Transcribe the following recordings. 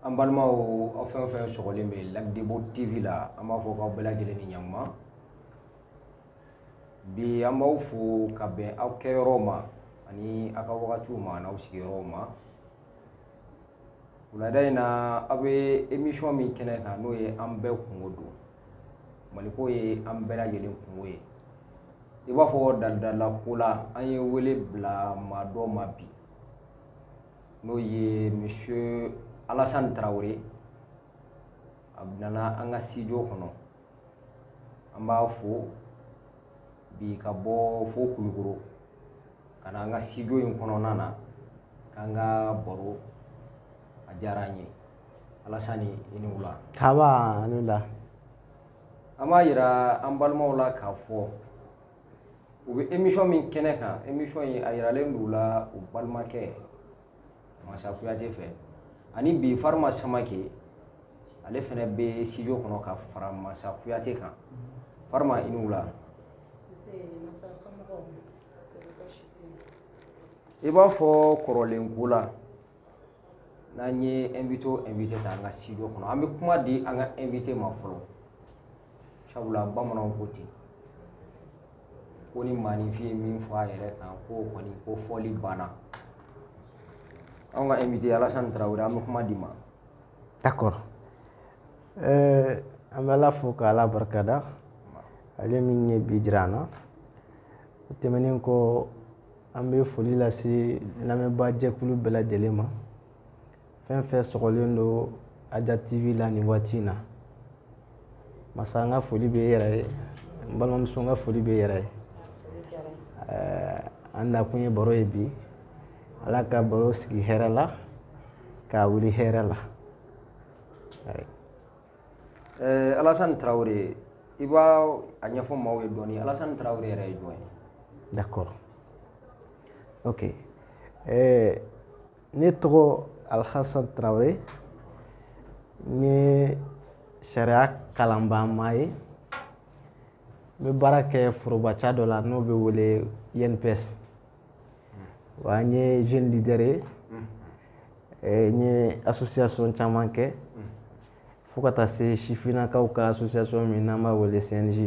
An balimaw aw fɛn o fɛn sɔgɔlen bɛ Lac Debo TV la an b'a fɔ k'aw bɛɛ lajɛlen ni ɲantuma, bi an b'aw fo ka bɛn aw kɛyɔrɔw ma ani aw ka wagatiw ma n'aw sigiyɔrɔw ma wulada in na aw bɛ emission min kɛnɛ kan n'o ye an bɛɛ kunko don maliko ye an bɛɛ lajɛlen kunko ye i b'a fɔ dalidalako la an ye wele bila maa dɔ ma bi n'o ye monsieur Alassane Traore a nana an ka studio kɔnɔ an b'a fo bi ka bɔ fo Kulukoro ka na an ka studio in kɔnɔna na k'an ka baro a diyara an ye Alassane i ni wula nba a ni wula an b'a yira an balimaw la k'a fɔ u bɛ emisɔn min kɛnɛ kan emisɔn in a yiralen don u la u balimakɛ masa kuyate fɛ ani bi farima samake ale fɛnɛ bɛ studio kɔnɔ ka fara masa kuyate kan farima i ni wula i b'a fɔ kɔrɔlen ko la n'an ye invité o invité ta an ka studio kɔnɔ an bɛ kuma di an ka invité ma fɔlɔ sabula bamananw ko ten ko ni maaninfin ye min fɔ a yɛrɛ kan k'o kɔni kofɔli banna anw ka invité Alassane Traoré an bɛ kuma d'i ma d'accord euh, an bɛ Ala fo ka Ala barikada ale min ye bi jira an na o tɛmɛnen kɔ an bɛ foli lase lamɛnbaajɛkulu bɛɛ lajɛlen ma fɛn fɛn sɔgɔlen don aja tv la nin waati in na masa n ka foli bɛ e yɛrɛ ye n balimamuso n ka foli bɛ e yɛrɛ ye an nakun ye baro ye bi ala ka baro sigi hɛrɛ la k'a wuli hɛrɛ la alasan tarawele i b'a a ɲɛfɔ maaw ye dɔɔnin alasani tarawele yɛrɛ ye jɔn ye d'accord ok ɛɛ eh, ne tɔgɔ alhasan tarawele n ye sariya kalanbaama ye n bɛ baara kɛ forobaca dɔ la n'o bɛ wele INPS wa n ye jeune leader ye n ye association caman kɛ fo ka taa se sifinnakaw ka association min n'an b'a wele CNJ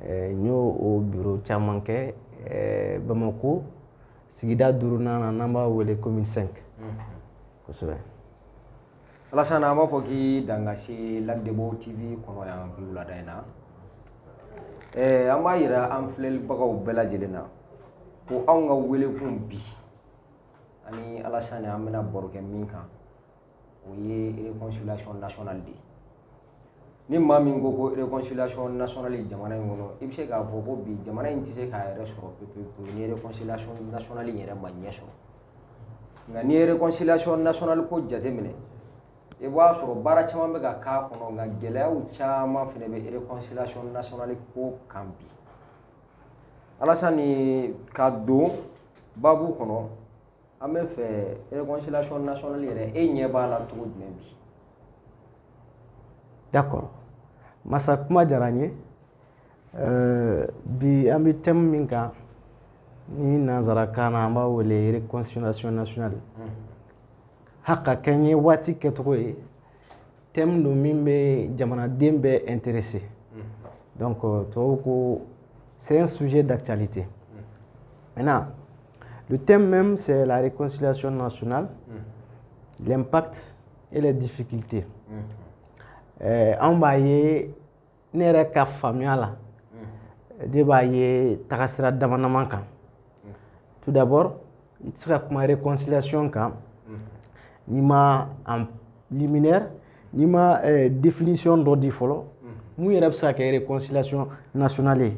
eh, n y'o o biro caman kɛ eh, Bamako sigida duurunan na n'an b'a wele commune 5 kosɛbɛ Alasan an b'a fɔ k'i danga se Lac Debo TV kɔnɔ yan bi wulada in na eh, an b'a yira an filɛlibagaw bɛɛ lajɛlen na ko anw ka welekun bi ani Alasan an bɛna baro kɛ min kan o ye réconciliation nationale de ye ni maa min ko ko réconciliation nationale jamana in kɔnɔ i bɛ se k'a fɔ ko bi jamana in tɛ se k'a yɛrɛ sɔrɔ pepepewu ni réconciliation nationale in yɛrɛ ma ɲɛ sɔrɔ nka n'i ye réconciliation nationale ko jateminɛ i b'a sɔrɔ baara caman bɛ ka k'a kɔnɔ nka gɛlɛyaw caman fana bɛ réconciliation nationale ko kan bi alasani ka don babu kɔnɔ an bɛ fɛ réconciliation nationale yɛrɛ e ɲɛ b'a la cogo jumɛn bi d'accord masa kuma diyara n ye euh, bi an bɛ thème min kan ni nanzarakan na an b'a wele réconciliation nationale ha ka kɛɲɛ waati kɛcogo ye thème don min bɛ jamanaden bɛɛ intéressé donc euh, tubabu ko c'est un sujet d'actualité maintenant Le thème même, c'est la réconciliation nationale, mm. l'impact et les difficultés. Mm. Euh, an b'a ye ne yɛrɛ ka faamuya la mm. ne b'a ye tagasira damadama kan tout d'abord i tɛ se ka kuma réconciliation kan n'i ma en liminaire n'i ma euh, définition dɔ di fɔlɔ mun yɛrɛ bɛ se ka kɛ réconciliation nationale ye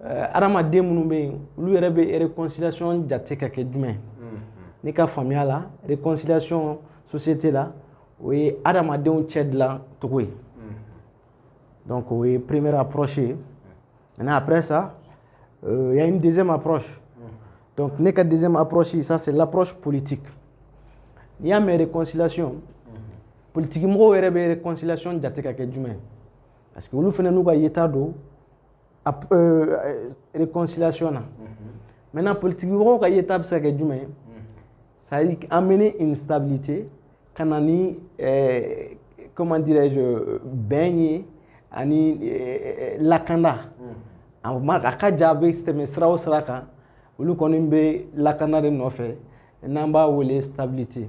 adamaden minnu bɛ yen olu yɛrɛ bɛ réconciliation jate ka kɛ jumɛn ne ka faamuya la réconciliation société la o ye adamadenw cɛ dilancogo ye donc o ye première approche ye maintenant après ça euh, il y a une deuxième approche donc ne ka deuxième approche ça c'est l'approche politique n'i y'a mɛn réconciliation politiki mɔgɔw yɛrɛ bɛ réconciliation jate ka kɛ jumɛn parce que olu fana n'u ka yeta don Réconciliation na maintenant politiki mɔgɔw ka yeta bɛ se ka kɛ jumɛn ye c'est amener une stabilité ka na ni comment dirais-je bɛn ye ani lakanda a ma a ka ja bɛ se tɛmɛ sira o sira kan olu kɔni bɛ lakanda de nɔfɛ n'an b'a wele stabilité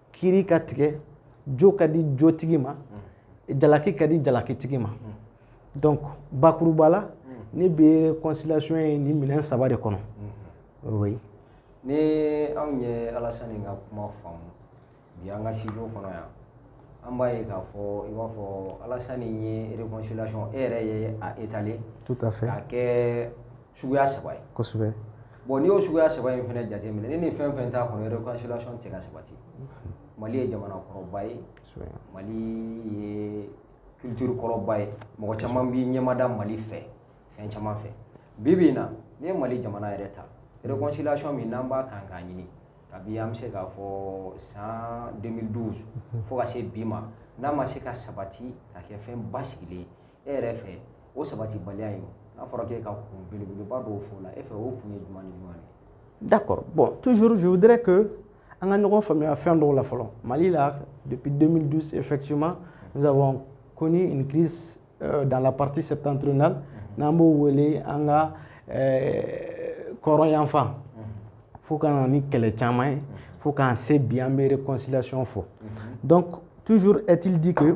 kiri ka tigɛ jo ka di jotigi ma mm. jalaki ka di jalakitigi ma mm. donc bakuruba la mm. ne bɛ réconciliation ye nin minɛn saba de kɔnɔ mm-hmm. oui ni an ye alasani ka kuma faamu bi an ka studio kɔnɔ yan an b'a ye k'a fɔ i b'a fɔ alasani ye réconciliation e yɛrɛ ye a étaler tout à fait k'a kɛ suguya saba ye kosɛbɛ bon n'i y'o suguya saba in fana jateminɛ ni nin fɛn fɛn t'a kɔnɔ réconciliation tɛ se ka sabati mali ye jamana kɔrɔba ye mali ye culture kɔrɔba ye mɔgɔ caman b'i ɲɛmada mali fɛ fɛn caman fɛ bi bi in na n'i ye mali jamana yɛrɛ ta réconciliation min n'an b'a kan k'a ɲini kabi an bɛ se k'a fɔ san 2012 fo ka se bi ma n'a ma se ka sabati ka kɛ fɛn basigilen ye e yɛrɛ fɛ o sabatibaliya ye n'a fɔra k'e ka kun belebeleba dɔw fɔ la e fɛ o kun ye jumɛn ni jumɛn ye d'accord bon toujours je voudrais que an ka ɲɔgɔn faamuya fɛn dɔw la fɔlɔ mali la depuis 2012 effectivement nous avons connu une crise euh, dans la partie septentrionale mhm. n'an b'o wele an ka euh, kɔrɔn yanfan mhm. fo ka na ni kɛlɛ caman ye mhm. fo k'an se bi an bɛ réconciliation fɔ donc toujours est-il dit que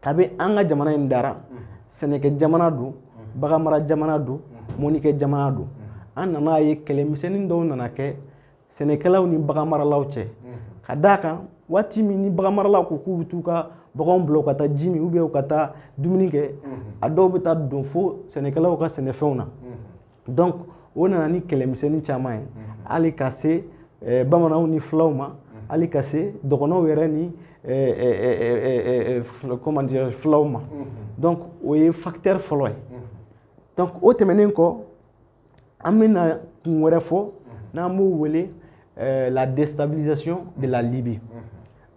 kabi an ka jamana in dara sɛnɛkɛ jamana don baganmara jamana don mɔnikɛ jamana don an nana a ye kɛlɛmisɛnnin dɔw nana kɛ sɛnɛkɛlaw ni baganmaralaw cɛ ka d'a kan waati min ni baganmaralaw ko k'u bɛ t'u ka baganw bila u ka taa ji min u bɛ u ka taa dumuni kɛ a dɔw bɛ taa don fo sɛnɛkɛlaw ka sɛnɛfɛnw na donc o nana ni kɛlɛmisɛnnin caman ye hali ka se eh, bamananw ni fulaw ma hali ka se dɔgɔnɔw yɛrɛ ni eh, eh, comment dire fulaw ma donc o ye facteur fɔlɔ ye donc o tɛmɛnen kɔ an bɛna kun wɛrɛ fɔ n'an b'o wele la déstabilisation de la Libye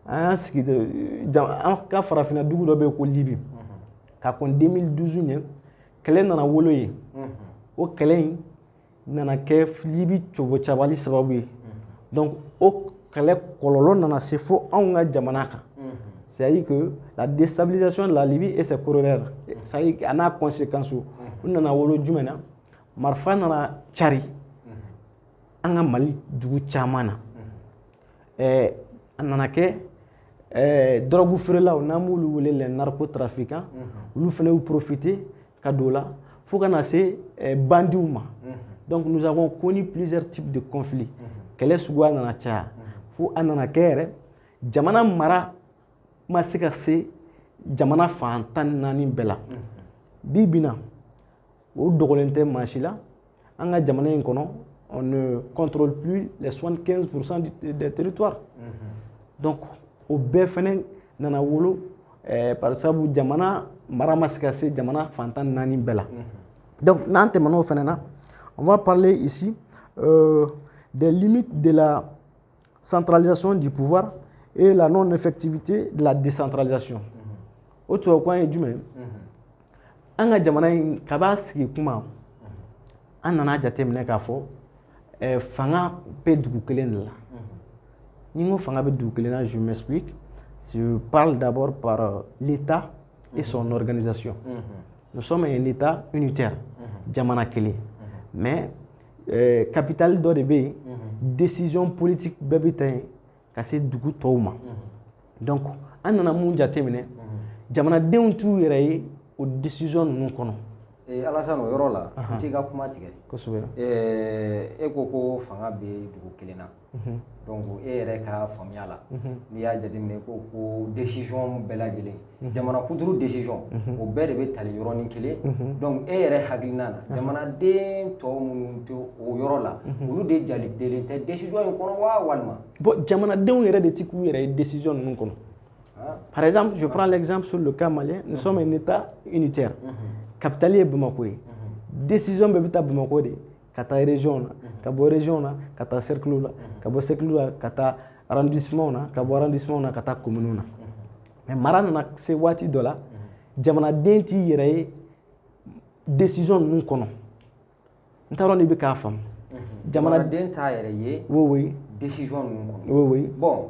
an y'an sigi an ka farafinna dugu dɔ bɛ yen ko Libye ka kɔn 2012 ɲɛ kɛlɛ nana wolo yen o kɛlɛ in nana kɛ Libye cobocabali sababu ye donc o kɛlɛ kɔlɔlɔ nana se fo anw ka jamana kan c'est-à-dire que la déstabilisation de la Libye et ses corollaires c'est-à-dire a n'a conséquence o nana wolo jumɛn na marifa nana cari an ka mali dugu caman na ɛɛ a nana kɛ ɛɛ dɔrɔgu feerelaw n'an b'olu wele les narcotrafiquants olu fana y'u profiter ka don o la fo ka na se ɛɛ bandiw ma donc nous avons connu plusieurs types de conflits kɛlɛ suguya nana caya fo a nana kɛ yɛrɛ jamana mara ma se ka se jamana fan tan ni naani bɛɛ la bi bi in na o dogolen tɛ maa si la an ka jamana in kɔnɔ on ne contrôle plus les 75 pour cent des territoires donc o bɛɛ fɛnɛ nana wolo eh, par sabu jamana mara ma se ka se jamana fan tan ni naani bɛɛ la donc n'an tɛmɛna o fɛnɛ na on va parler ici euh, des limites de la Centralisation du pouvoir et la non-effectivité de la décentralisation. Mm-hmm. O tubabukan ye jumɛn ye? Mm-hmm. An ka jamana in kab'a sigi kuma mm-hmm. an nana jateminɛ k'a fɔ eh, fanga bɛ dugu kelen de la. Ni n ko fanga bɛ dugu kelen na, je m'explique. Je parle d'abord par euh, l'État et son organisation. Nous sommes un État unitaire, jamana kelen. Mais Ɛɛ capitale dɔ de bɛ yen décision politique bɛɛ bɛ ta yen ka se dugu tɔw ma donc an nana mun jateminɛ jamanadenw t'u yɛrɛ ye o décision ninnu kɔnɔ Alassane o yɔrɔ la n t'i ka kuma tigɛ e ko ko fanga bɛ dugu kelen na e yɛrɛ ka faamuya la n'i y'a jateminɛ ko ko décision bɛɛ lajɛlen jamana kuturu décision o bɛɛ de bɛ tali yɔrɔnin kelen e yɛrɛ hakilina na jamanaden tɔ minnu tɛ o yɔrɔ la olu de jatelen tɛ décision in kɔnɔ waa walima bon jamanadenw yɛrɛ de tɛ k'u yɛrɛ ye décision ninnu kɔnɔ par exemple je prends l'exemple sur le cas malien nous sommes un État unitaire capitale ye bamakɔ ye décision bɛɛ bɛ ta bamakɔ de ka taa région na ka bɔ région na ka taa cercle la ka bɔ cercle la ka taa arrondissement na ka bɔ arrondissement na ka taa commune na mais mara nana se waati dɔ la jamanaden t'i yɛrɛ ye décision ninnu kɔnɔ n t'a dɔn n'i bɛ k'a faamu jamanaden t'a yɛrɛ ye oui oui décision ninnu kɔnɔ oui oui bon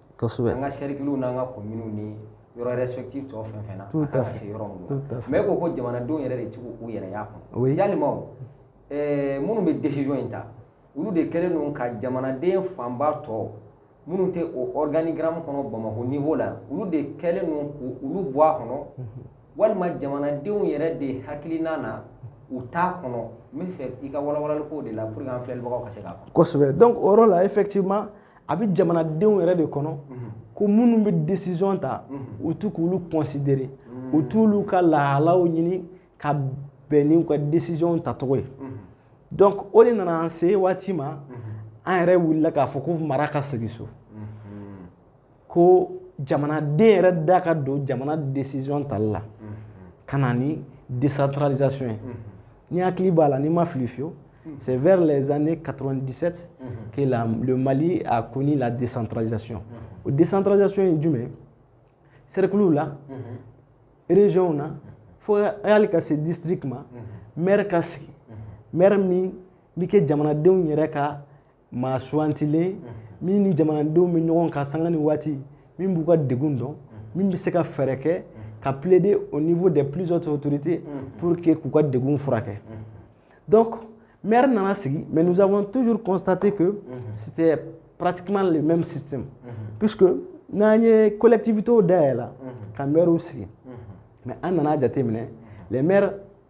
kosɛbɛ an ka sɛrikiluw n'an ka kominiw ni yɔrɔ respective tɔ fɛn fɛn na a kan ka se yɔrɔ minnu na mais ko ko jamanadenw yɛrɛ de tɛ k'u yɛrɛ y'a kɔnɔ walima o eh, minnu bɛ décision in ta olu de kɛlen don ka jamanaden fanba tɔ minnu tɛ o organigramme kɔnɔ Bamakɔ niveau la olu de kɛlen don k'olu bɔ a kɔnɔ mhm. walima jamanadenw yɛrɛ de hakilina na u t'a kɔnɔ n bɛ fɛ i ka walawalali k'o de la pour que an filɛlibagaw ka se k'a faamu kosɛbɛ donc o yɔrɔ la effectivement a bɛ jamanadenw yɛrɛ de kɔnɔ ko minnu bɛ décision ta u t'u k'olu considérer u t'olu ka lahalaw ɲini ka bɛn n'u ka décision tacogo ye donc o de nana an se waati ma an yɛrɛ wulila k'a fɔ ko mara ka segin so ko jamanaden yɛrɛ da ka don jamana décision tali la ka na ni décentralisation ye N'i hakili b'a la ni n ma fili fiyewu hmm. c'est vers les années 97 hmm. que la, le Mali a connu la décentralisation hmm. o décentralisation ye jumɛn cerclew la régionw na fo hali ka se district ma maire ka sigi maire min bɛ kɛ jamanadenw yɛrɛ ka maa sugantilen min ni jamanadenw bɛ ɲɔgɔn kan sanga ni waati min b'u ka degun dɔn min bɛ se ka fɛɛrɛ kɛ ka plaider au niveau des plus hautes autorités pour que k'u ka degun furakɛ donc maire nana sigi mais nous avons toujours constaté que c'était pratiquement le même système puisque n'an ye collectivités dayɛlɛ ka maires sigi mais an nana jateminɛ ye k'a fɔ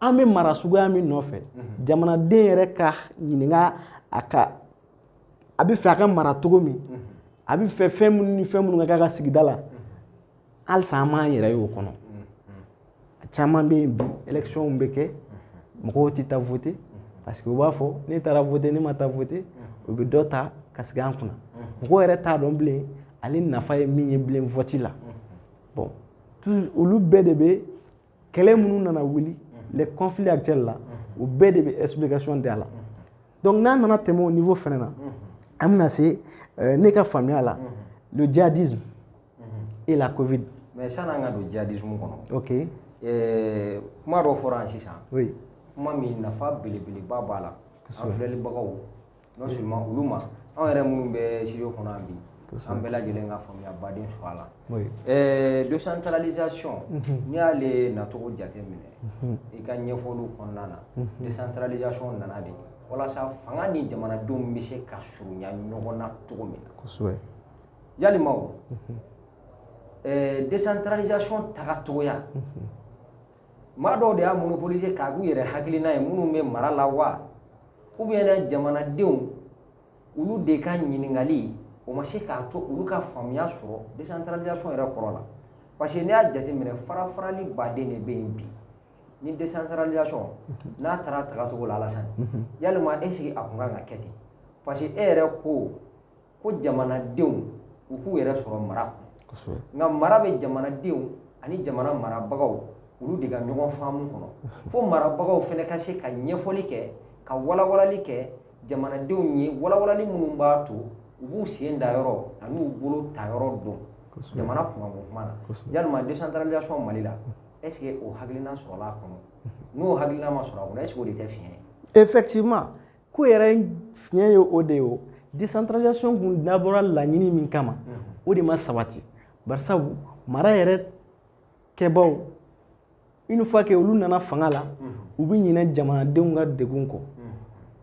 an bɛ mara suguya min nɔfɛ mhm. jamanaden yɛrɛ ka ɲininka a ka a bɛ fɛ a ka mara cogo min mhm. a bɛ fɛ fɛn minnu ni fɛn minnu ka k'a ka sigida la mhm. halisa an m'an yɛrɛ y'o kɔnɔ a caman bɛ yen bi électionw bɛ kɛ mɔgɔw tɛ taa voter parce que u b'a fɔ ne taara voter ne ma taa voter u bɛ dɔ ta ka sigi an kunna mɔgɔw yɛrɛ t'a dɔn bilen ale nafa ye min ye bilen vote la bon olu bɛɛ de bɛ kɛlɛ minnu nana wuli les conflits actuels la o bɛɛ de bɛ explication di a la donc n'an nana tɛmɛ o niveau fɛnɛ na an bɛna se euh, ne ka faamuya la le djihadisme et la covid mais san'an ka don djihadisme kɔnɔ ok euh, kuma dɔ fɔra yan sisan oui kuma min nafa belebeleba b'a la an filɛlibagaw Non seulement olu ma anw yɛrɛ minnu bɛ studio kɔnɔ bi an bɛɛ lajɛlen ka faamuya baden sɔrɔ a la décentralisation n'i y'ale nacogo jate minɛ i ka ɲɛfɔw kɔnɔna na décentralisation nana de walasa fanga ni jamanadenw bɛ se ka surunya ɲɔgɔn na cogo min na yalima décentralisation tagacogoya maa dɔw de y'a monopoliser k'a k'u yɛrɛ hakilina ye minnu bɛ mara la wa ou bien jamanadenw olu de ka ɲininkali o ma se k'a to olu ka faamuya sɔrɔ décentralisation yɛrɛ kɔrɔ la parce que n'i y'a jateminɛ farafarali baden de bɛ yen bi ni décentralisation n'a taara tagacogo la Alassane yalima est-ce que a kun kan ka kɛ ten parce que e yɛrɛ ko ko jamanadenw u k'u yɛrɛ sɔrɔ mara kɔnɔ nka mara bɛ jamanadenw ani jamana marabagaw olu de ka ɲɔgɔn faamu kɔnɔ fo marabagaw fɛnɛ ka se ka ɲɛfɔli kɛ ka walawalali kɛ jamanadenw ye walawalali minnu b'a to u b'u sen da yɔrɔ ani u bolo ta yɔrɔ dɔn jamana kunkanko kuma na yalima décentralisation Mali la est ce que o hakilina sɔrɔla a kɔnɔ n'o hakilina ma sɔrɔ a kɔnɔ est ce que o de tɛ fiɲɛ ye effectivement ko yɛrɛ fiɲɛ ye o de ye o décentralisation kun dabɔra laɲini min kama o de ma sabati barisabu mara yɛrɛ kɛbaw une fois que olu nana fanga la u bɛ ɲinɛ jamanadenw ka degun kɔ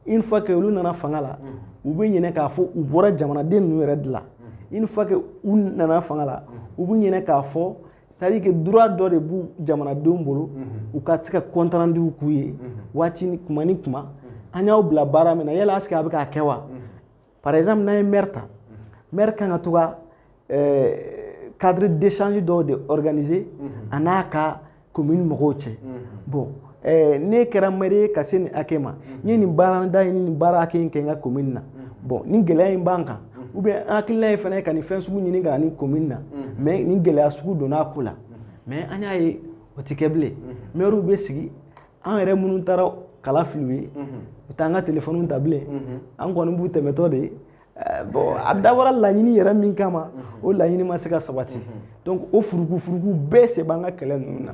une fois que olu nana fanga la u bɛ ɲinɛ k'a fɔ u bɔra jamanaden ninnu yɛrɛ de la une fois que u nana fanga la u bɛ ɲinɛ k'a fɔ c'est-à-dire que droit dɔ de b'u jamanadenw bolo u ka se ka compte rendu k'u ye waati ni kuma ni kuma an y'aw bila baara min na yala est-ce que a bɛ k'a kɛ wa par exemple n'an ye maire ta maire kan ka to ka cadre d'échange dɔw de organiser a n'a ka commune mɔgɔw cɛ bon ɛɛ ne kɛra maire ye ka se nin hakɛ ma n ye nin baarada in ni nin baara hakɛ in kɛ n ka commune na bon ni gɛlɛya in b'an kan ou bien an hakilina ye fana ka nin fɛn sugu ɲini ka ni commune na mais nin gɛlɛya sugu donna a ko la mais an y'a ye o tɛ kɛ bilen mairew bɛ sigi an yɛrɛ minnu taara kala fili u ye u t'an ka téléphonew ta bilen an kɔni b'u tɛmɛtɔ de ye eh, bon a dabɔra laɲini yɛrɛ min kama o laɲini ma se ka sabati donc o furuku furuku bɛɛ sen b'an ka kɛlɛ ninnu na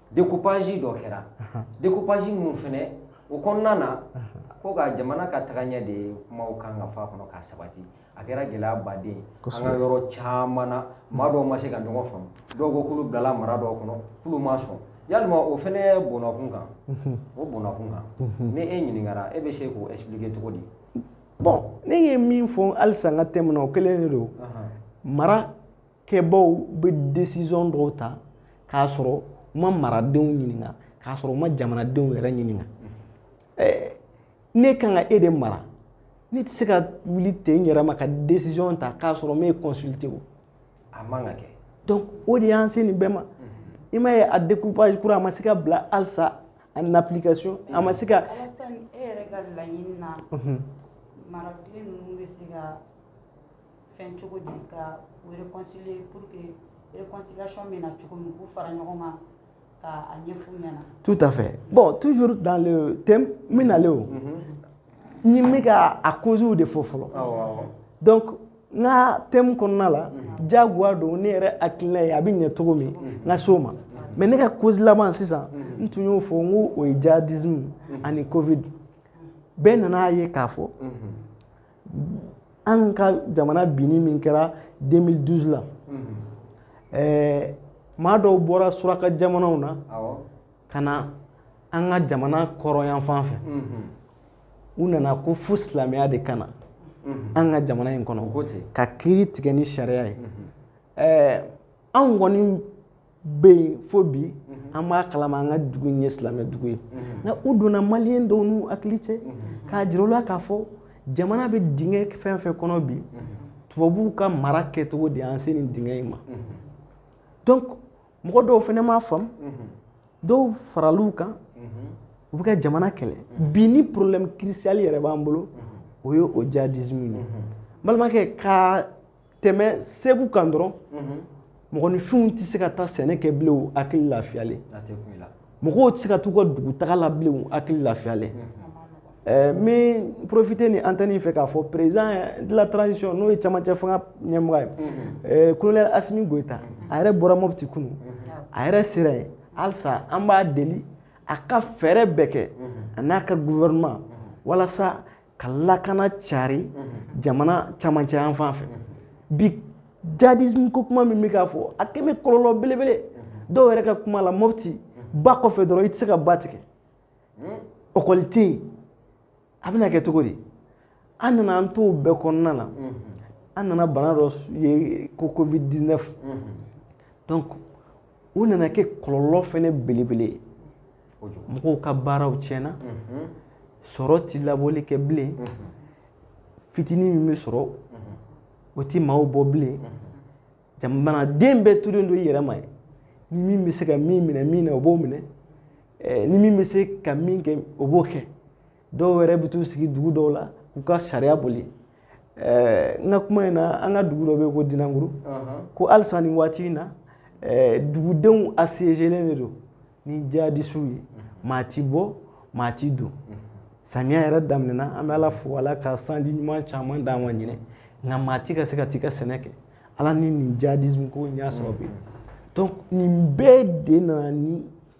Découpage dɔ kɛra découpage minnu fɛnɛ o kɔnɔna na ko ka jamana ka tagaɲɛ de kumaw kan ka fɔ a kɔnɔ k'a sabati a kɛra gɛlɛyaba de ye an ka yɔrɔ caman na maa dɔw ma se ka ɲɔgɔn faamu dɔw ko k'olu bilala mara dɔw kɔnɔ k'olu ma sɔn yalima o fɛnɛ bɔnn'a kun kan o bɔnn'a kun kan ni e ɲininkara e bɛ se k'o expliquer cogo di bon ne ye min fɔ halisa n ka thème na o kelen de don mara kɛbaaw bɛ décision dɔw ta k'a sɔrɔ u ma maradenw ɲininka k'a sɔrɔ u ma jamanadenw yɛrɛ ɲininka ɛɛ ne kan ka e de mara ne tɛ se ka wuli ten n yɛrɛ ma ka décision ta k'a sɔrɔ n m'e consulter o a man ka kɛ donc o de y'an se nin bɛɛ ma i m'a ye a découpage kura a ma se ka bila halisa en application a ma se ka Alassane e yɛrɛ ka laɲini na maraden ninnu bɛ se ka fɛn cogo di ka u réconcilier pour que réconciliation bɛ na cogo min k'u fara ɲɔgɔn kan ka a ɲɛf'u ɲɛna. Tout à fait bon toujours dans le thème n bɛ nalen o ne n bɛ ka a causew de fɔ fɔlɔ donc n ka thème kɔnɔna la diyagoya don ne yɛrɛ hakilina ye a bɛ ɲɛ cogo min n ka s'o ma mais ne ka cause laban sisan n tun y'o fɔ n ko o ye djihadisme ani covid bɛɛ nan'a ye k'a fɔ. an ka jamana binni min kɛra 2012 la ɛɛ maa dɔw bɔra suraka jamanaw na ka na an ka jamana kɔrɔyanfan fɛ u nana ko fo silamɛya de ka na an ka jamana in kɔnɔ ka kiri tigɛ ni sariya ye ɛɛ anw kɔni bɛ yen fo bi mhm. an b'a kalama an ka dugu in ye silamɛ dugu ye mhm. nka u donna maliyɛn dɔw n'u hakili cɛ mhm. k'a jira u la k'a fɔ jamana bɛ dingɛ fɛn fɛn kɔnɔ bi tubabuw ka mara kɛcogo de y'an se nin dingɛ in ma donc mɔgɔ dɔw fana m'a faamu dɔw faral'u kan u bɛ ka jamana kɛlɛ bi ni problème crucial yɛrɛ b'an bolo o ye o djihadisme ye balimakɛ ka tɛmɛ segu kan dɔrɔn mɔgɔninfinw tɛ se ka taa sɛnɛ kɛ bilen u hakili lafiyalen mɔgɔw tɛ se ka t'u ka dugutaga la bilen u hakili lafiyalen eh, n bɛ porofite ni antɛni fɛ k'a fɔ président de la transition n'o ye camancɛ fanga ɲɛmɔgɔ ye eh, kolonɛli asimi goyita a yɛrɛ bɔra mɔputi kunu a yɛrɛ sera yen halisa an b'a deli a ka fɛɛrɛ bɛɛ kɛ a n'a ka gouvernement walasa ka lakana cari jamana camancɛ yan fan fɛ bi djihadisme ko kuma min bɛ k'a fɔ a kɛmɛ kɔlɔlɔ belebele dɔw yɛrɛ ka kuma la mɔpti ba kɔfɛ dɔrɔn i tɛ se ka ba tigɛ ɔkɔli tɛ yen a bɛna kɛ cogo di an nana an t'o bɛɛ kɔnɔna na an nana bana dɔ ye ko covid 19 donc o nana kɛ kɔlɔlɔ fɛnɛ belebele ye mɔgɔw ka baaraw tiɲɛna sɔrɔ tɛ labɔli kɛ bilen fitinin min bɛ sɔrɔ o tɛ maaw bɔ bilen jamanaden bɛɛ tolen don i yɛrɛ ma yen ni min bɛ se ka min minɛ min na o b'o minɛ ni min bɛ se ka min kɛ o b'o kɛ dɔw yɛrɛ bɛ t'u sigi dugu dɔw la k'u ka sariya boli eh, n ka kuma in na an ka dugu dɔ bɛ yen ko dinanguru ko halisa nin waati in na eh, dugudenw asezelen de don ni jihadisiw ye maa ti bɔ maa ti don samiya yɛrɛ daminɛna an bɛ ala fo ala ka sanji ɲuman caman d'an ma ɲinan nka maa ti ka se ka t'i ka sɛnɛ kɛ ala ni nin jihadisme ko in y'a sababu ye donc nin bɛɛ de nana ni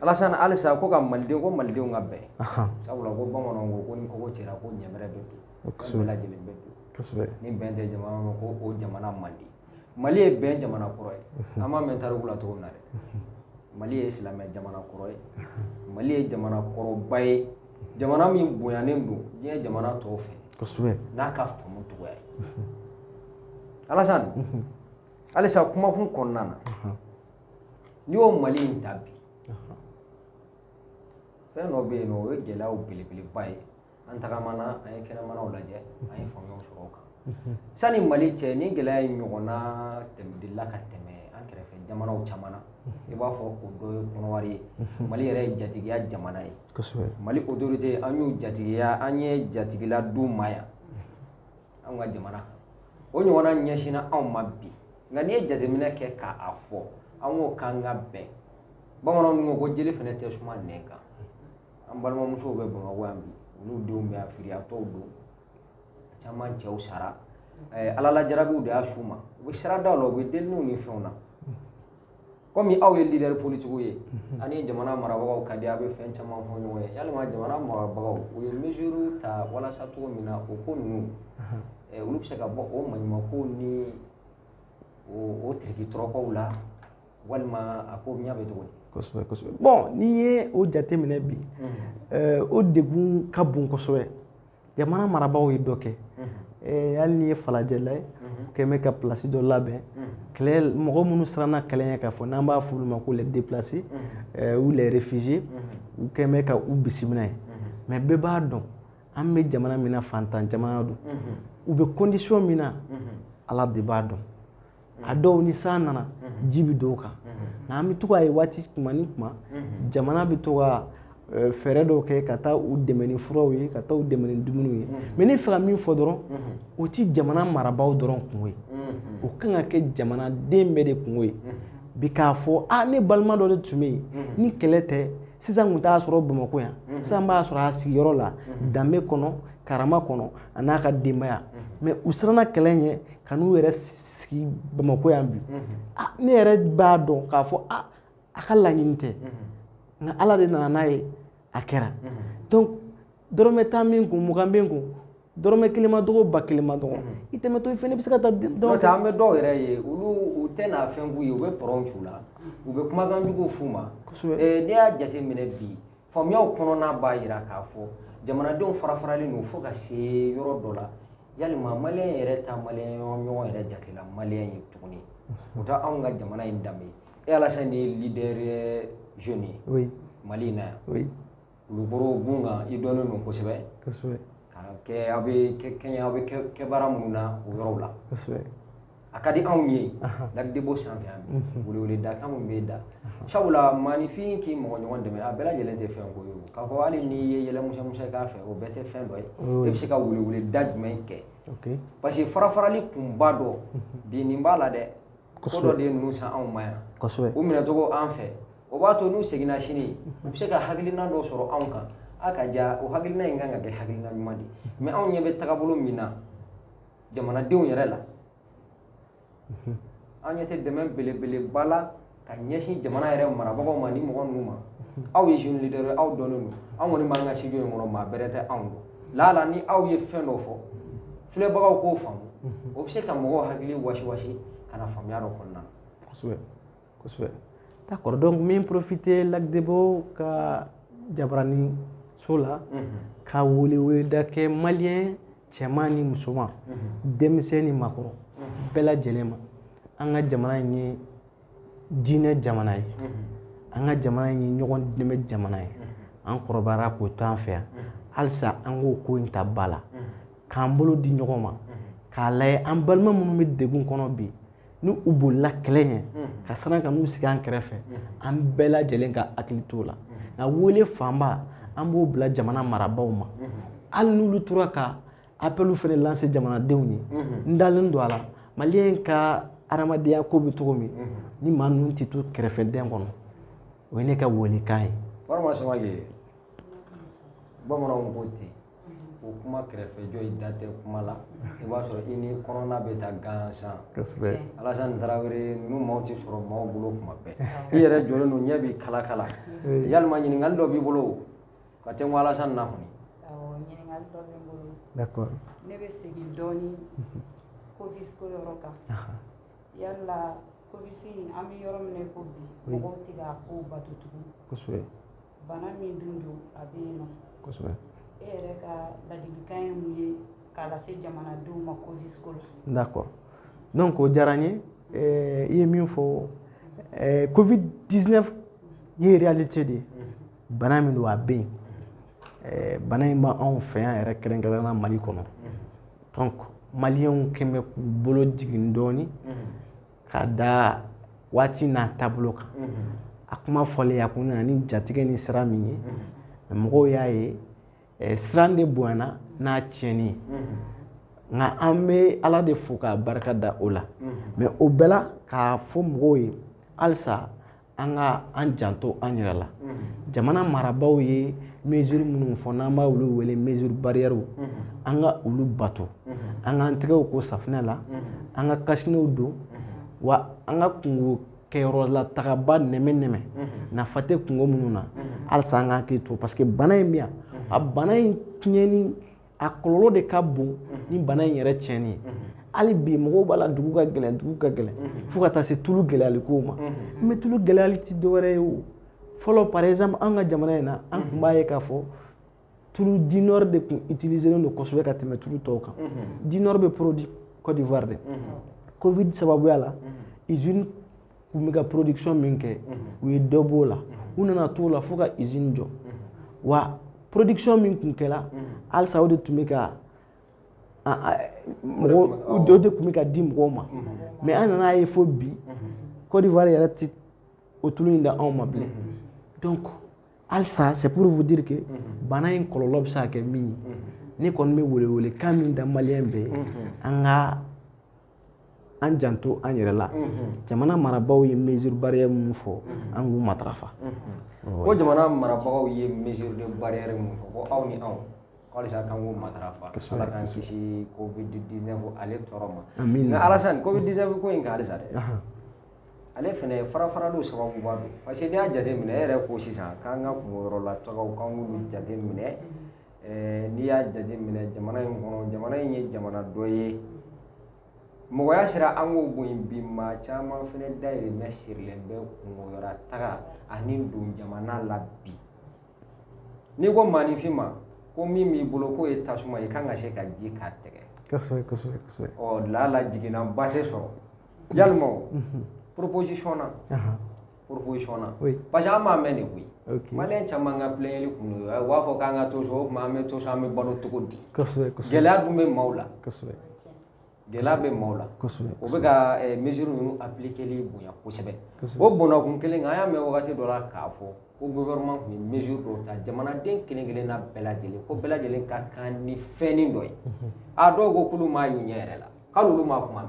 Alasan halisa ko ka maliden ko malidenw ka bɛn sabula ko bamananw ko ko ni kogo cira ko ɲɛbɛrɛ lajɛlen bɛ don kosɛbɛ ni bɛn tɛ jamana ma ko o jamana man di mali ye bɛn jamana kɔrɔ ye an b'a mɛn tariku la cogo min na dɛ mali ye silamɛ jamana kɔrɔ ye mali ye jamana kɔrɔba ye jamana min bonyanen don diɲɛ jamana tɔw fɛ kosɛbɛ n'a ka faamu cogoya ye alasan halisa kumakun kɔnɔna na n'i y'o mali in ta bi fɛn dɔ bɛ yen n'o ye gɛlɛyaw belebeleba ye an tagamana an ye kɛnɛmanaw lajɛ an ye faamuyaw sɔrɔ o kan mhm. sani mali cɛ nin gɛlɛya in ɲɔgɔnna delila ka tɛmɛ an kɛrɛfɛ jamanaw caman na mhm. i b'a fɔ o dɔ ye kɔnɔwari ye mhm. mali yɛrɛ ye jatigiya jamana ye mali autorité an y'u jatigiya an ye jatigila d'u ma yan anw ka jamana kan o ɲɔgɔnna ɲɛsinna anw ma bi nka n'i ye jateminɛ kɛ k'a fɔ an ko k'an ka bɛn bamananw dun ko ko jeli fana tɛ suma nɛn kan an balimamusow bɛ bamakɔ yan bi olu denw bɛ yan firiyatɔw don caman cɛw sara ala la jarabiw de y'a s'u ma u bɛ siradaw la u bɛ deliniw ni fɛnw na Kɔmi aw ye leader politique ye unhun a' ni jamana marabagaw ka di a' bɛ fɛn caman fɔ ɲɔgɔn ye yalima jamana marabagaw u ye mesure ta walasa cogo min na o ko ninnu anhan ɛ olu bɛ se ka bɔ o maɲumankow ni o o tiriki-tɔrɔkɔw la walima a ko ɲɛ bɛ cogo di kosɛbɛ kosɛbɛ bon n'i ye o jateminɛ bi unhun ɛɛ o degun ka bon kosɛbɛ jamana marabaaw ye dɔ kɛ eh, hali n'i ye falajɛla ye u kɛn bɛ ka pilasi dɔ labɛn kɛlɛ mɔgɔ minnu siranna kɛlɛ ɲɛ k'a fɔ n'an b'a f'olu ma ko les déplacés eh, ou les réfugiés u kɛn bɛ ka u bisimila yen mais bɛɛ b'a dɔn an bɛ jamana min na fantan jamana don u bɛ condition min na ala de b'a dɔn a dɔw ni san nana ji bɛ don u kan nka an bɛ to k'a ye waati kuma ni kuma jamana bɛ to ka fɛɛrɛ dɔw kɛ ka taa u dɛmɛ ni furaw ye ka taa u dɛmɛ ni dumuniw ye mais ne fɛ ka min fɔ dɔrɔn o tɛ jamana marabaaw dɔrɔn kunko ye o kan ka kɛ jamanaden bɛɛ de kunko ye bi k'a fɔ aa ne balima dɔ de tun bɛ yen ni kɛlɛ tɛ sisan tun t'a sɔrɔ bamakɔ yan sisan b'a sɔrɔ a sigiyɔrɔ la danbe kɔnɔ karama kɔnɔ a n'a ka denbaya mais u siranna kɛlɛ ɲɛ ka n'u yɛrɛ sigi bamakɔ yan bi ah, ne yɛrɛ b'a dɔn k'a fɔ ah, a ka laɲini tɛ nka ala de nana n'a ye a kɛra donc dɔrɔmɛ tan b'i kun mugan b'i kun dɔrɔmɛ kelen ma dɔgɔ ba kelen ma dɔgɔ i tɛmɛtɔ i fana bɛ se ka taa n'o tɛ an bɛ dɔw yɛrɛ ye olu u tɛ na fɛn k'u ye u bɛ pɔrɔn c'u la u bɛ kumakan jugu f'u ma n'i y'a jateminɛ bi Faamuyaw kɔnɔna b'a jira k'a fɔ jamanadenw fara faralen don fo ka se yɔrɔ dɔ la yalima maliyɛn yɛrɛ t'a maliyɛn ɲɔgɔn yɛrɛ jate la maliyɛn ye tuguni o tɛ anw ka jamana in danbe e alassane ye leader jeune ye mali in na yan kulukɔrɔ gun kan i dɔnnen don kosɛbɛ aw bɛ kɛ aw bɛ kɛ baara minnu na o yɔrɔ la a ka di anw ye Lac Débo sanfɛ weleweleda anw bɛ da sabula maaninfin k'i mɔgɔ ɲɔgɔn dɛmɛ a bɛɛ lajɛlen tɛ fɛn ko ye k'a fɔ hali n'i ye yɛlɛ musɔnmusɔn k'a fɛ o bɛɛ tɛ fɛn dɔ ye e bɛ se ka weleweleda jumɛn kɛ parce que farafarali kunba dɔ bin nin b'a la dɛ dɔ de ye ninnu san anw ma yan u minɛcogo an fɛ o b'a to n'u seginna sini u bɛ se ka hakilina dɔ sɔrɔ anw kan aw ka ja o hakilina in kan ka kɛ hakilina ɲuman de mais anw ɲɛ bɛ taabolo min na jamanadenw yɛrɛ la an ɲɛ tɛ dɛmɛ belebeleba la ka ɲɛsin jamana yɛrɛ marabagaw ma ni mɔgɔ ninnu ma aw ye jeune leader ye aw dɔnnen don an kɔni b'an ka studio in kɔnɔ maa bɛrɛ tɛ anw dɔn laala ni aw ye fɛn dɔ fɔ filɛbagaw k'o faamu o bɛ se ka mɔgɔw hakili wasiwasi ka na faamuya dɔ kɔnɔna na kosɛbɛ kosɛbɛ d'accord donc n bɛ n profiter Lac Débo ka jabaranin so la ka weleweleda kɛ maliyɛn cɛman ni musoman denmisɛn ni maakɔrɔ bɛɛ lajɛlen ma an ka jamana in ye diinɛ jamana ye an ka jamana in ye ɲɔgɔn dɛmɛ jamana ye an kɔrɔbayara k'o to an fɛ yan halisa an k'o ko in ta ba la k'an bolo di ɲɔgɔn ma k'a lajɛ an balima minnu bɛ degun kɔnɔ bi ni u bolila kɛlɛ ɲɛ ka siran ka n'u sigi an kɛrɛfɛ an bɛɛ lajɛlen ka hakili t'o la nka wele fanba an b'o bila jamana marabaaw ma hali n'olu tora ka appel fɛnɛ lancer jamanadenw ye n dalen don a la maliyɛn ka adamadenya ko bɛ cogo min ni maa ninnu tɛ to kɛrɛfɛ dɛn kɔnɔ o ye ne ka welekan ye bamananw ko ten o kuma kɛrɛfɛjɔ i da tɛ kuma la i b'a sɔrɔ i ni kɔnɔna bɛ taa gansan alasan tarawele ninnu maa tɛ sɔrɔ maa bolo kuma bɛɛ i yɛrɛ jɔlen don ɲɛ b'i kala kala yalima ɲininkali dɔ b'i bolo ka tɛ ko alasan na kɔni ɲininkali dɔ bɛ n bolo d'accord ne bɛ segin dɔɔnin covid ko yɔrɔ kan yalima covid an bɛ yɔrɔ min na ko bi mɔgɔw tɛ k'a ko bato tugun bana min dun don a bɛ yen nɔ e yɛrɛ ka ladilikan ye mun ye k'a lase jamanadenw ma covid ko la d'accord donc o diyara n ye eh, i ye min fɔ eh, covid 19 ye réalité de ye bana min don a bɛ yen eh, bana in b'anw fɛ yan yɛrɛ kɛrɛnkɛrɛnna mali kɔnɔ donc maliyɛnw kɛn bɛ k'u bolo jigin dɔɔni ka da waati n'a taabolo kan a kuma fɔlen a kun nana ni jatigɛ ni siran min ye mɔgɔw y'a ye eh, siran de bonyana n'a tiɲɛni ye nka an bɛ ala de fo k'a barika da o la mais o bɛɛ la k'a fɔ mɔgɔw ye halisa an ka an janto an yɛrɛ la jamana marabaaw ye mesure minnu fɔ n'an b'a olu wele mesure barrière an ka olu bato an k'an tɛgɛw ko safinɛ la an ka kasinew don wa an ka kunko kɛyɔrɔ la tagaba nɛmɛ nɛmɛ nafa tɛ kunko minnu na halisa an k'an hakili to parce que bana in bɛ yan a bana in tiɲɛni a kɔlɔlɔ de ka bon ni bana in yɛrɛ tiɲɛni ye hali bi mɔgɔw b'a la dugu ka gɛlɛn dugu ka gɛlɛn fo ka taa se tulu gɛlɛyali kow ma mais tulu gɛlɛyali tɛ dɔwɛrɛ ye o fɔlɔ par exemple an ka jamana in na an tun b'a ye k'a fɔ tulu Dinor de tun utiliselen don kosɛbɛ ka tɛmɛ tulu tɔw kan Dinor bɛ produit Côte d'Ivoire de covid sababuya la usine tun bɛ ka production min kɛ u ye dɔ b'o la u nana t'o la fo ka usine jɔ wa production min tun kɛra halisa o de tun bɛ ka mɔgɔ dɔ de tun bɛ ka di mɔgɔw ma mais an nana ye fo bi Côte d'Ivoire yɛrɛ tɛ o tulu in di anw ma bilen donc halisa c'est pour vous dire que bana in kɔlɔlɔ bɛ se ka kɛ min ye ne kɔni bɛ welewelekan min da maliyɛn bɛɛ ye an ka an janto an yɛrɛ la jamana marabagaw ye mesure barrière min fɔ an k'u matarafa ko jamana marabagaw ye mesure de barrière min fɔ ko aw ni anw halisa k'an k'u matarafa ala k'an kisi covid-19 ale tɔɔrɔ ma nka Alassane covid-19 ko in kan halisa dɛ ale fana farafarali sababuba don parce que n'i y'a jateminɛ e yɛrɛ ko sisan k'an ka kunko yɔrɔ la tagaw k'an k'olu jateminɛ Ɛɛ n'i y'a jate minɛ jamana in kɔnɔ jamana in ye jamana dɔ ye mɔgɔya sira an k'o bon bi maa caman fana dayirimɛ sirilen bɛ kunko yɔrɔ taga ani don jamana la bi n'i ko maaninfin ma ko min b'i bolo k'o ye tasuma ye k'an ka se ka ji k'a tɛgɛ ɔ lala jiginna ba tɛ sɔrɔ ya proposition na proposition na oui. parce que an b'a mɛn de koyi okay. maliyɛn caman ka plaigneli kun don u b'a fɔ k'an ka to so o tuma an bɛ to so an bɛ balo cogo di gɛlɛya dun bɛ maaw la gɛlɛya bɛ maaw la o bɛ ka eh, mesure ninnu appliqueli bonya kosɛbɛ o bɔnna kun kelen kan an y'a mɛn wagati dɔ la k'a fɔ ko gouvernement tun ye mesure dɔw ta jamanaden kelen kelenna bɛɛ lajɛlen ko bɛɛ lajɛlen ka kan ni fɛnnin dɔ ye a dɔw ko k'olu m'a y'u ɲɛ yɛrɛ la Kalo olu ma kuma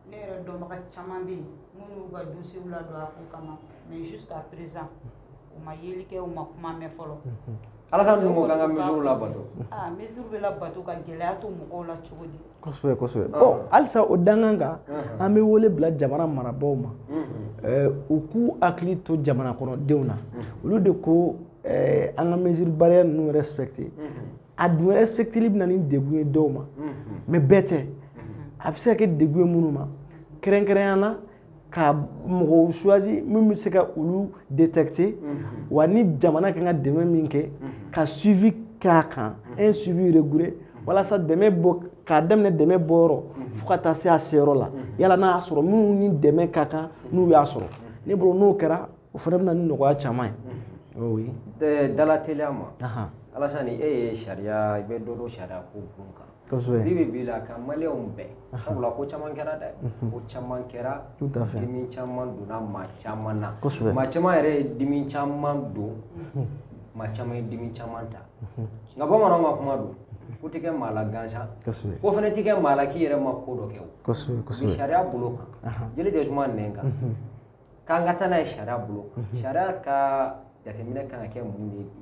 ne yɛrɛ dɔnbaga caman bɛ minnu ka dusu la don a kama mɛ su ka perez u ma yeli kɛ u ma kuma mɛn fɔlɔ ala ka la bato bɛ la bato ka gɛlɛya to mɔgɔw la cogo di halisa o dangan kan an bɛ wele bila jamana marabaaw ma u k'u hakili to jamana kɔnɔdenw na olu de ko an ka mesure barrière ninnu respecter a dun respecteli bɛ na ni degun ye dɔw ma mais bɛɛ tɛ a bɛ se ka kɛ degun ye minnu ma kɛrɛnkɛrɛnnenya la ka mɔgɔw choisi min bɛ se ka olu détecter wa ni jamana kan ka dɛmɛ min kɛ ka suivi k'a kan un suivi rigoureux walasa dɛmɛ bɔ k'a daminɛ dɛmɛ bɔyɔrɔ fo ka taa se a seyɔrɔ la yala n'a y'a sɔrɔ minnu ni dɛmɛ ka kan n'u y'a sɔrɔ ne bolo n'o kɛra o fana bɛ na ni nɔgɔya caman ye oui dalateliya ma Alasani e ye sariya i bɛ dɔ dɔn sariya ko bon kan bi bɛ bi la ka maliyɛnw bɛn sabula ko caman kɛra dɛ ko caman kɛra dimi caman donna maa caman na maa caman yɛrɛ ye dimi caman don maa caman ye dimi caman ta nka bamananw ka kuma don ko tɛ kɛ maa la gansan ko fana tɛ kɛ maa la k'i yɛrɛ ma ko dɔ kɛ o sariya bolo kan joli tɛ suma nɛn kan k'an ka taa n'a ye sariya bolo sariya ka jateminɛ kan ka kɛ mun de ye bi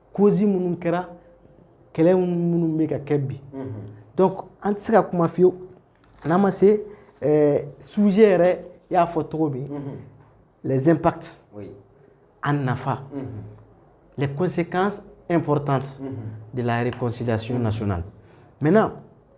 causes minnu kɛra kɛlɛ minnu bɛ ka kɛ bi donc an tɛ se ka kuma fiyewu n'an ma se eh, sujet yɛrɛ y'a fɔ cogo min les impacts a nafa les conséquences importantes de la réconciliation nationale maintenant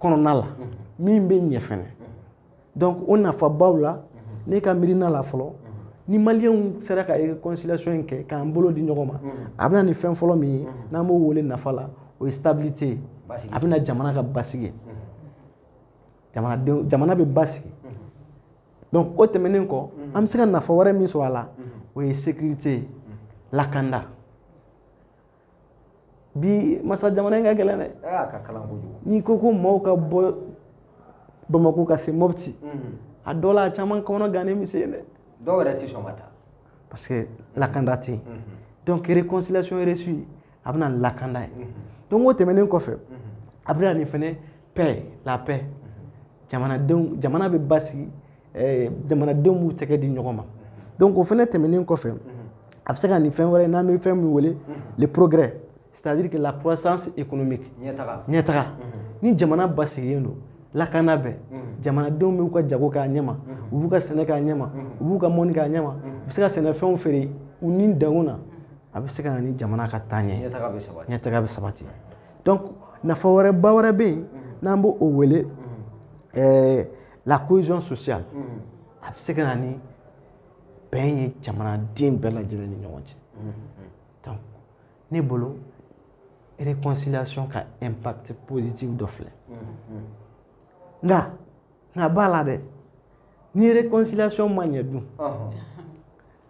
kɔnɔna la min bɛ ɲɛ fɛnɛ donc o nafabaw la ne ka miirina la fɔlɔ ni maliyɛnw sera ka réconciliation in kɛ k'an bolo di ɲɔgɔn ma a bɛ na ni fɛn fɔlɔ min ye n'an b'o wele nafa la o ye stabilité ye a bɛna jamana ka basigi ye jamanadenw jamana bɛ basigi donc o tɛmɛnen kɔ an bɛ se ka nafa wɛrɛ min sɔrɔ a la o ye sécurité ye lakanda bi ma sa jamana in ka gɛlɛn dɛ a ka kalan kojugu n'i ko ko maaw ka bɔ bamako ka se mɔpti a dɔ la a caman kɔnɔ gannen bɛ se yen dɛ dɔw yɛrɛ tɛ sɔn ka taa parce que lakanda tɛ yen donc réconciliation réussie a bɛ na ni lakanda ye donc o tɛmɛnen kɔfɛ a bɛ na ni fɛnɛ paix la paix jamanadenw jamana bɛ basigi eh, jamanadenw b'u tɛgɛ di ɲɔgɔn ma donc o fɛnɛ tɛmɛnen kɔfɛ a bɛ se ka na ni fɛn wɛrɛ n'an bɛ fɛn min wele le progrès c'est à dire que la croissance économique ɲɛtaga ɲɛtaga ni jamana basigilen don lakana bɛ jamanadenw b'u ka jago k'a ɲɛma u b'u ka sɛnɛ k'a ɲɛma u b'u ka mɔni k'a ɲɛma u bɛ se ka sɛnɛfɛnw feere u ni danw na a bɛ se ka na ni jamana ka taa ɲɛ ɲɛtaga bɛ sabati ɲɛtaga bɛ sabati donc nafa wɛrɛba wɛrɛ bɛ yen n'an b'o wele ɛɛ la cohésion sociale a bɛ se ka na ni bɛn ye jamanaden bɛɛ lajɛlen ni ɲɔgɔn cɛ donc ne bolo réconciliation ka impact positif dɔ filɛ nka a b'a la dɛ ni réconciliation ma ɲɛ dun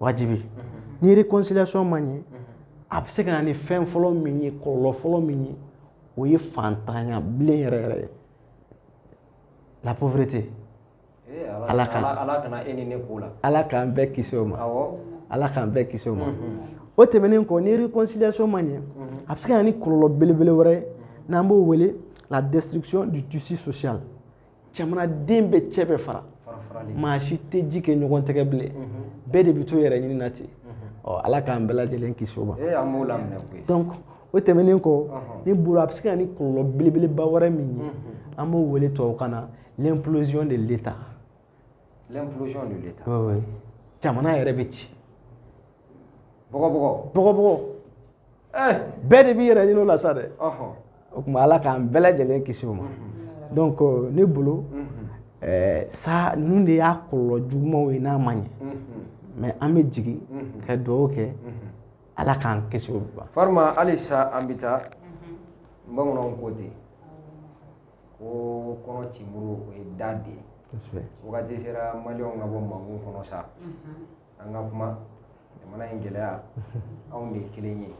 wajibi ni réconciliation ma ɲɛ a bɛ se ka na ni fɛn fɔlɔ min ye kɔlɔlɔ fɔlɔ min ye o ye fantanya bilen yɛrɛ yɛrɛ ye la pauvreté eh, ala ka ala kana e ni ne k'o la ala k'an bɛɛ kisi o ma ala k'an bɛɛ kisi o ma o tɛmɛnen kɔ ni réconciliation ma ɲɛ a bɛ se ka na ni kɔlɔlɔ belebele wɛrɛ ye n'an b'o wele la destruction du tissu social jamanaden bɛɛ cɛ bɛ fara maa si tɛ ji kɛ ɲɔgɔn tɛgɛ bilen bɛɛ de bɛ to yɛrɛ ɲini na ten ɔ ala k'an bɛɛ lajɛlen kisi o ma donc o tɛmɛnen kɔ ne bolo a bɛ se ka na ni kɔlɔlɔ belebeleba wɛrɛ min ye an b'o wele tubabukan na l'implosion de l'État l'implosion de l'État jamana yɛrɛ bɛ ci bɔgɔbɔgɔ bɔgɔbɔgɔ eh. bɛɛ de b'i yɛrɛ ɲini o la sa dɛ o tuma ala k'an bɛɛ lajɛlen kisi o ma mhm. donc euh, ne bolo mhm. eh, sa ninnu de y'a kɔlɔlɔ jugumanw ye n'a ma ɲɛ mhm. mais an bɛ jigin ka dugawu kɛ ala k'an kisi olu ma farima halisa an bɛ taa bamananw ko ten ko kɔnɔ cimuru o ye da de ye wagati sera maliyɛnw ka bɔ mangun kɔnɔ sa an ka kuma jamana in gɛlɛya anw de ye kelen ye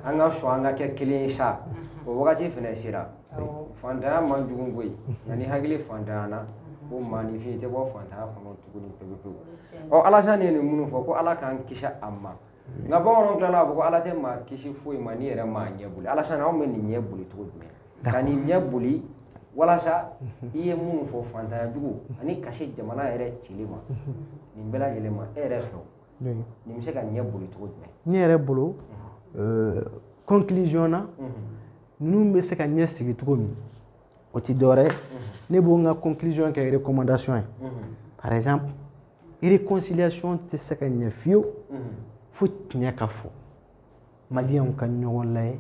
an ka sɔn an ka kɛ kelen ye sa o wagati fana sera fantanya man jugu koyi nka ni hakili fantanyana ko maaninfin tɛ bɔ fantanya kɔnɔ tuguni pewu pewu ɔ alasani ye nin minnu fɔ ko ala k'an kisi a ma nka bamananw tilala k'a fɔ ko ala tɛ maa kisi foyi ma n'i yɛrɛ m'a ɲɛ boli alasan anw bɛ nin ɲɛ boli cogo jumɛn ka nin ɲɛ boli walasa i ye minnu fɔ fantanya jugu ani ka se jamana yɛrɛ cili ma nin bɛɛ lajɛlen ma e yɛrɛ fɛ nin bɛ se ka ɲɛ boli cogo jumɛn ne yɛrɛ bolo euh, conclusion na ninnu bɛ se ka ɲɛ sigi cogo min o ti dɔwɛrɛ ye ne b'o n ka conclusion kɛ recommandation ye par exemple réconciliation tɛ se ka ɲɛ fiyewu fo tiɲɛ ka fɔ maliyɛnw ka ɲɔgɔn layɛ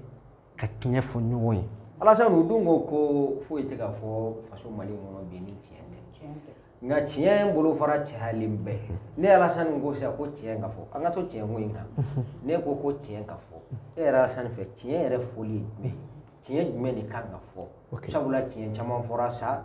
ka tiɲɛ fɔ ɲɔgɔn ye alasan o dɔn ko ko foyi tɛ ka fɔ faso mali kɔnɔ bi ni tiɲɛ tɛ nka tiɲɛ bolofara cayalen bɛ ni alasani ko sisan ko tiɲɛ ka fɔ an ka to tiɲɛ ko in kan ne ko ko tiɲɛ ka fɔ e yɛrɛ alasani fɛ tiɲɛ yɛrɛ fɔli ye jumɛn tiɲɛ jumɛn de kan ka fɔ sabula tiɲɛ caman fɔra sa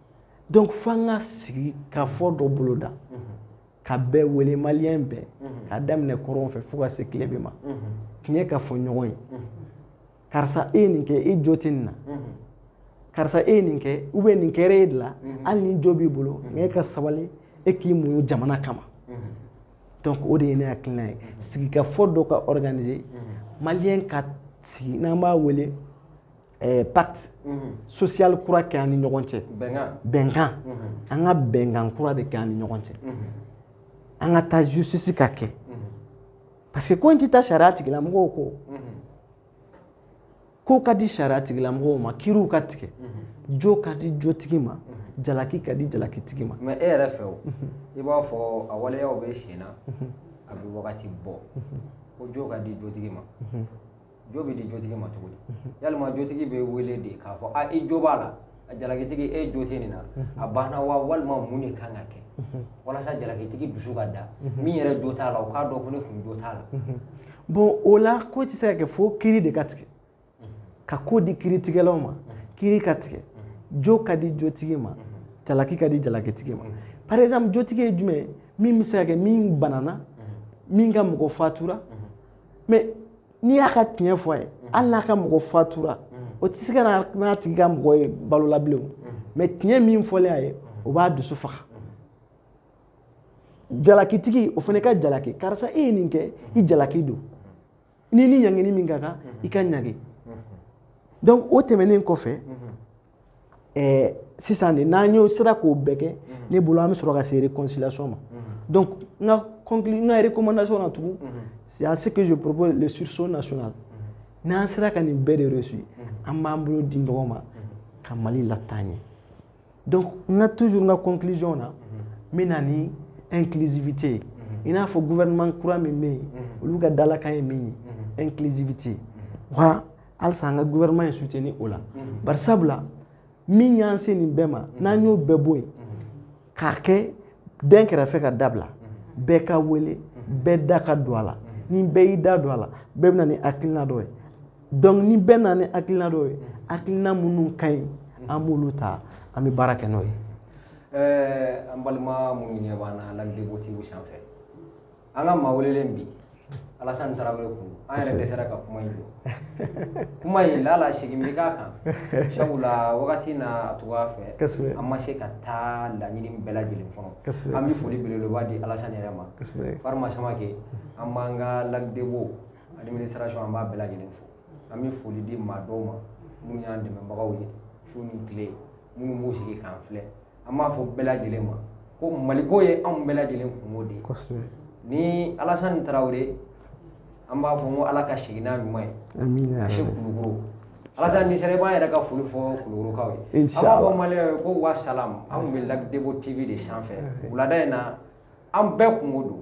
donc fo an ka sigikafɔ dɔ boloda ka bɛɛ wele maliyɛn bɛɛ ka daminɛ kɔrɔn fɛ fo ka se tilebin ma tiɲɛ ka fɔ ɲɔgɔn ye karisa e ye nin kɛ e jo tɛ nin na karisa e ye nin kɛ ou bien nin kɛra e de la hali ni jo b'i bolo nka e ka sabali e k'i muɲu jamana kama donc o de ye ne hakilina ye sigikafɔ dɔ ka organiser maliyɛn ka sigi n'an b'a wele ɛɛ pacte social kura kɛ an ni ɲɔgɔn cɛ bɛnkan an ka bɛnkan kura de kɛ an ni ɲɔgɔn cɛ an ka taa justice ka kɛ parce que ko in tɛ taa sariya tigilamɔgɔw kɔ ko ka di sariya tigilamɔgɔw ma kiriw ka tigɛ jo ka di jotigi ma jalaki ka di jalakitigi ma mais e yɛrɛ fɛ o i b'a fɔ a waleyaw bɛ sen na a bɛ wagati bɔ ko jo ka di jotigi ma jo bɛ di jotigi ma cogo di yalima jotigi bɛ wele de k'a fɔ a i jo b'a la a jalakitigi e jo tɛ nin na a banna wa walima mun de kan ka kɛ walasa jalakitigi dusu ka da min yɛrɛ jo t'a la o k'a dɔn ko ne kɔni jo t'a la bon o la ko tɛ se ka kɛ fo kiri de ka tigɛ ka ko di kiritigɛlaw ma kiri ka tigɛ jo ka di jotigi ma jalaki ka di jalakitigi ma par exemple jotigi ye jumɛn ye min bɛ se ka kɛ min banana min ka mɔgɔ fatura mais n'i y'a ka tiɲɛ fɔ a ye hali n'a ka mɔgɔ fatura o tɛ se ka na n'a tigi ka mɔgɔ ye balo la bilen mais tiɲɛ min fɔlen a ye o b'a dusu faga jalakitigi o fana ka jalaki karisa e ye nin kɛ i jalaki don n'i ni ɲangini min ka kan i ka ɲangi donc o tɛmɛnen kɔfɛ ɛɛ sisan de n'an y'o sera k'o bɛɛ kɛ ne bolo an bɛ sɔrɔ ka se réconciliation ma donc n ka conclu n ka recommandation na tugun c'est à ce que je propose le sursaut national n'an sera ka nin bɛɛ de réussir an b'an bolo di ɲɔgɔn ma ka Mali lataa ɲɛ donc n ka toujours n ka conclusion na n bɛ na ni inclusivité ye i n'a fɔ gouvernement kura min bɛ yen olu ka dalakan ye min ye inclusivité wa halisa an ka gouvernement ye soutenir o la bari sabula min y'an se nin bɛɛ ma n'an y'o bɛɛ bɔ yen k'a kɛ dɛnkɛrɛfɛ ka dabila bɛɛ ka wele bɛɛ da ka don a la ni bɛɛ y'i da don a la bɛɛ bɛna ni hakilina dɔ ye donc ni bɛɛ nana ni hakilina dɔ ye hakilina minnu ka ɲi an b'olu ta an bɛ baara kɛ n'o ye an balima minnu ɲɛ b'an na Lac Débo TV sanfɛ an ka maa welelen bi Alassane Traoré kun an yɛrɛ dɛsɛra ka kuma in jɔ kuma in lala segin bɛ k'a kan sabula wagati n'a cogoya fɛ an ma se ka taa laɲini bɛɛ lajɛlen kɔnɔ an bɛ foli belebeleba di Alassane yɛrɛ ma Farima Samake an b'an ka Lac Débo administration an b'a bɛɛ lajɛlen fo an bɛ foli di maa dɔw ma minnu y'an dɛmɛbagaw ye su ni tile minnu b'u sigi k'an filɛ an b'a fɔ bɛɛ lajɛlen ma ko maliko ye anw bɛɛ lajɛlen kungo de ye ni Alassane Traoré an b'a fɔ ko ala ka segin n'a ɲuman ye ka se kulukoro Alassane n'i sera i b'an yɛrɛ ka foli fɔ kulukorokaw ye an b'a fɔ maliyɛnw ye ko wa salam an tun bɛ Lac Débo TV de sanfɛ wulada in na an bɛɛ kungo don